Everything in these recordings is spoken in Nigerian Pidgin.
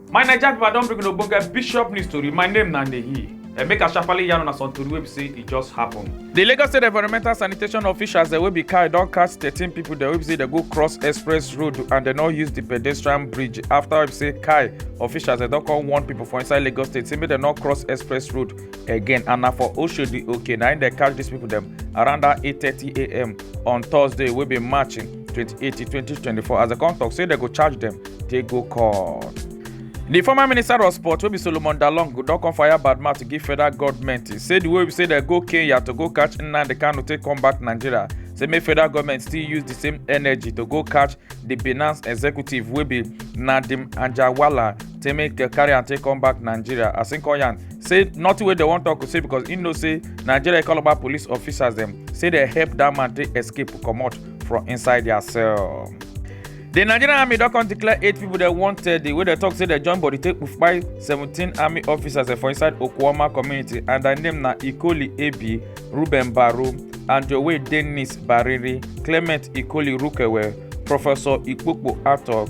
My Naija people, I don bring una ogbonge bishop news tori. My name na Nehi. Uh, make I sharply yarn una some tori wey be say e just happen. The Lagos State Environmental Sanitation officials dem wey be carry don catch thirteen people dem wey be say dem go cross express road and dem no use the pedestrian bridge after wey be say kai officials dem don come warn people for inside Lagos State say make dem no cross express road again and na for oshodi okay na im dey catch dis pipo dem around dat 8:30am on thursday wey be march 28 2024 as dem come tok say dem go charge dem dey go court. di former minister of sport wey be solomon dalong don come fire bad mouth to give federal goment say di way be say dem go kenya to go catch nnamdi kanu take come back nigeria say make federal goment still use di same energy to go catch di binance executive wey be nadeem anjarwalla take make uh, carry am take come back nigeria as im call yarn say nothing wey dem wan talk say because im know say nigeria calabar police officers dem say dem help dat man take escape comot from inside dia cell. di nigerian army don come declare eight pipo dem wanted wey dem tok say dem join body take kpai seventeen army officers for inside okuoma community and dia name na ikoli ebi ruben baro anjowe dennis bariri clement ikoli rukewe professor ikpokpo atok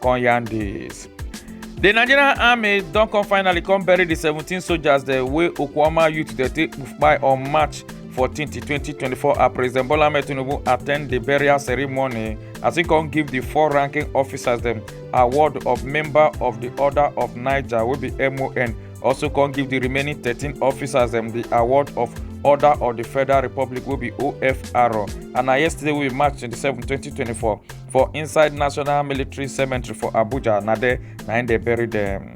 come yarn dis. The Nigerian army don come finally come bury the 17 soldiers the way Okwama youth dey take kpai on March 14, 2024 as President Bola Ahmed Tinubu attend the burial ceremony as he come give the four ranking officers dem award of member of the Order of Niger wey be MON also come give the remaining 13 officers dem the award of Order of the Federal Republic wey be OFR and na yesterday wey be March 27, 2024 for inside national military cemetery for abuja na there na im dey bury dem.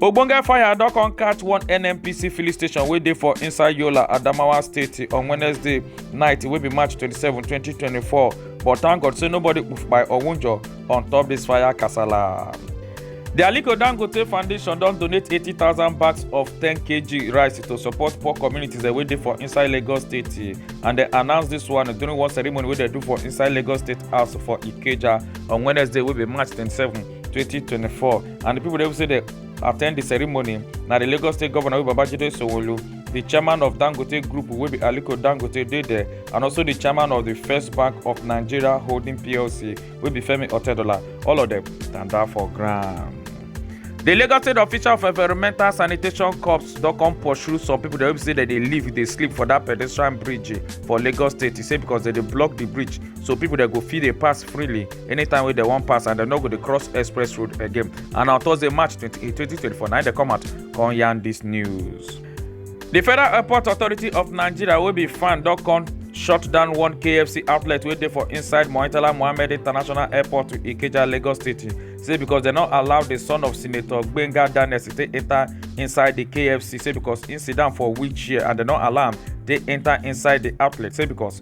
ogbonge fire don come catch one nnpc filling station wey dey for inside yola adamawa state on wednesday night wey be march 27 2024 but thank god say nobody kpoof by or wunjure on top dis fire kasala. di aliko dangote foundation don donate 80000 bags of 10kg rice to support poor communities wey dey for inside lagos state and dem announce dis one during one ceremony wey dem do for inside lagos state house for ikeja on wednesday wey be march 27 2024 and di pipo dey say dem attend di ceremony na di lagos state govnor babajide sanwo-olu di chairman of dangote group wey be aliko dangote dey there and also di chairman of di first bank of nigeria holding plc wey be femi otedola all of dem tanda for ground. di lagos state official of environmental sanitation corps don come pursue some pipo dem wey be say dem dey live dey sleep for dat pedestrian bridge for lagos state e say becos dem dey block di bridge so pipo dem go fit dey pass freely anytime wey dem wan pass and dem no go dey cross express road again. and on thursday march 28 2024 na dem come out come yarn dis news. di federal airport authority of nigeria wey be fan don come shut down one kfc outlet wey dey for inside moitala mohammed international airport to ikeja lagos state say because dem no allow di son of senator gbenga daniels take enta inside di kfc say because im sit down for wheelchair and dem no allow am take enta inside di outlet say because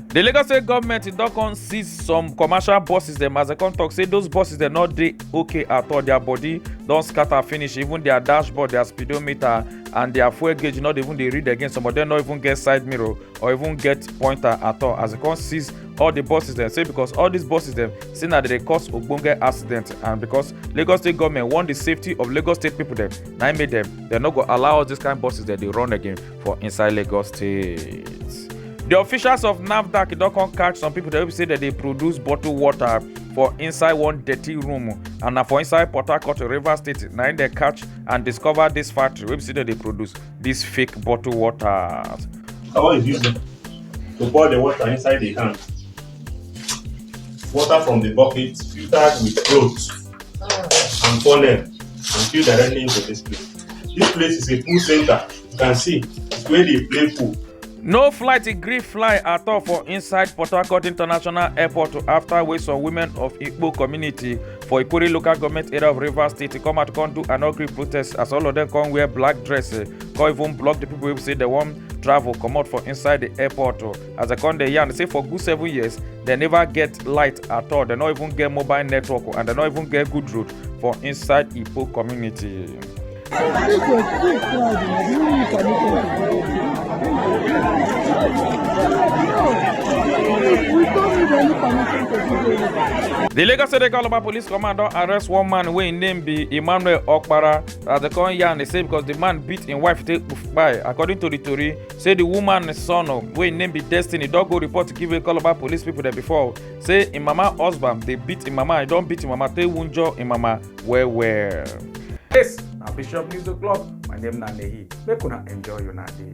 di lagos state goment don come seize some commercial buses dem as dem come tok say those buses dem no dey okay at all their body don scatter finish even their dashboard their speedometer and their fuel gauge no dey even dey read again some of dem no even get side mirror or even get pointer at all as dem come seize all the buses dem say because all these buses dem say na dey cause ogbonge accident and because lagos state goment want the safety of lagos state people dem na im make dem dem no go allow all these kind buses dem dey run again for inside lagos state di officials of nafdac don come catch some pipo wey be say dem dey produce bottled water for inside one dirty room and na for inside port harcourt rivers state na im dem catch and discover dis factory wey be say dem dey produce dis fake bottled water. I want to use them to pour the water inside the can. Water from the bucket filtered with clothes and funnel and filled directly into this place. This place is a pool center. You can see the way they play pool. No flight gree fly at all for inside Port Harcourt International Airport after wey some women of Igbo community for Ikuri local government area of Rivers State come out come do an ugly protest as all of them come wear black dress eh, come even block the people wey say they wan travel comot for inside the airport oh. as they come dey yarn say for good seven years they never get light at all they no even get mobile network oh, and they no even get good road for inside Igbo community. The Lagos State Calabar Police Command don arrest one man wey im name be Emmanuel Okpara as dem come yarn dey say because the man beat im wife take kpai. According to the tori, say the woman son oh, wey im name be Destiny don go report give Calabar police people dem before say im mama husband dey beat im mama, e don beat im mama take wunjure im mama. well well. Yes, na Bishop News O'Clock. My name na Nehi. Make una enjoy una day.